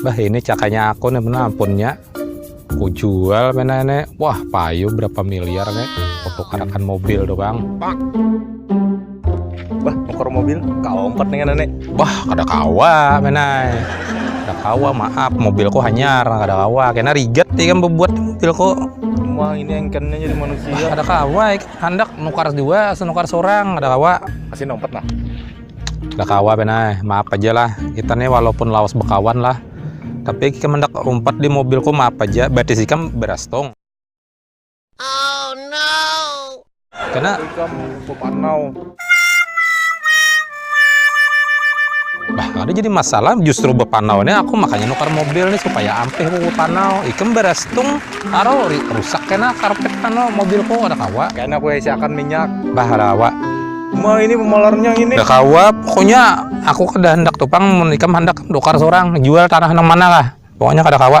Bah ini cakanya aku nih bener ampunnya. Aku jual mana ini. Wah payu berapa miliar nih. Untuk karakan mobil tuh bang. Bah mokor mobil kau empat nih nenek. Bah kada kawa menai. Kada kawa maaf mobilku hanyar kada kawa. Kena riget nih kan membuat mobilku. Wah ini engkennya jadi manusia. Bah, kada kawa handak nukar dua senukar seorang kada kawa. Kasih nompat nah. Dah kawa benai, maaf aja lah. Kita nih walaupun lawas bekawan lah. Tapi kita mendak umpat di mobilku maaf aja. Berarti sih kam berastung. Oh no. Karena kam sopanau. Bah, ada jadi masalah justru bepanau nih aku makanya nukar mobil nih supaya ampih mau bepanau. Ikem berastung taro rusak kena karpet kano mobilku ada kawa. Karena aku isi akan minyak. Bah, ada kawa. Ma ini pemolarnya ini. Dah kawa, pokoknya aku kada hendak tuh pang menikam hendak dokar seorang jual tanah nang mana lah. Pokoknya kada kawa.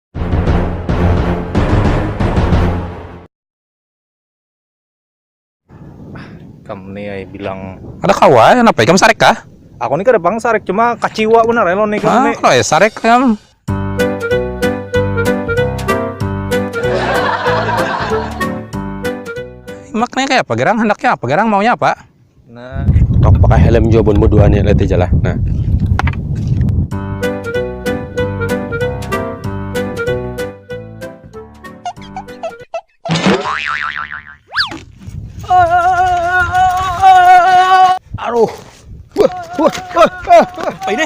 Kam nih ay bilang Ada kawa, kenapa ikam sarek kah? Aku nih kada pang sarek, cuma kaciwa benar ya lawan ikam nih. Ah, sarek kam. Maknanya kayak apa gerang? Hendaknya apa gerang? Maunya apa? Nah, tok pakai helm jua bun berdua nih lihat aja lah. Nah. Aduh. Wah, wah, wah, wah. Apa ini?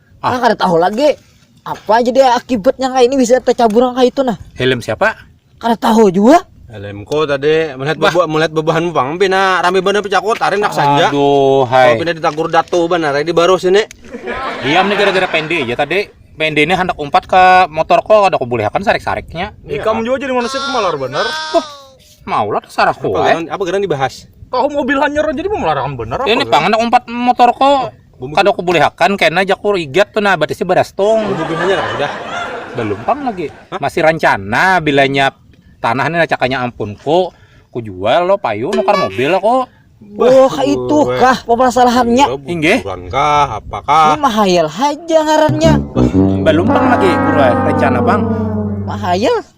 Ah. Nah, kada tahu lagi apa aja dia akibatnya kayak ini bisa tercabur kayak itu nah. Helm siapa? Kada tahu juga. Helmku tadi melihat bebu melihat bebahan pang pina rame bener pecakut hari nak saja. Aduh, hai. Pina ditagur datu bener di baru sini. Diam nih gara-gara pendek ya tadi pendek ini hendak umpat ke motor kok ada kubulihakan sarik-sariknya. Iya. Ikam juga jadi manusia pemalar bener. Oh, maulah sarah kue. Apa, apa dibahas? Kau mobil hanyar jadi pemelaran bener. Ini pangan umpat motor kok Kada ku bulihakan kena jaku igat tu nah batisi baras tung. Bubing haja lah sudah. Belum pang lagi. Masih rancana bilanya tanah ni cakanya ampunku ku jual lo payu nukar mobil aku. Oh, kaitu kah pamasalahannya? Inggih. Buruan kah apa kah? Ini mahayal haja ngarannya. Belum pang lagi buruan rencana pang. Mahayal.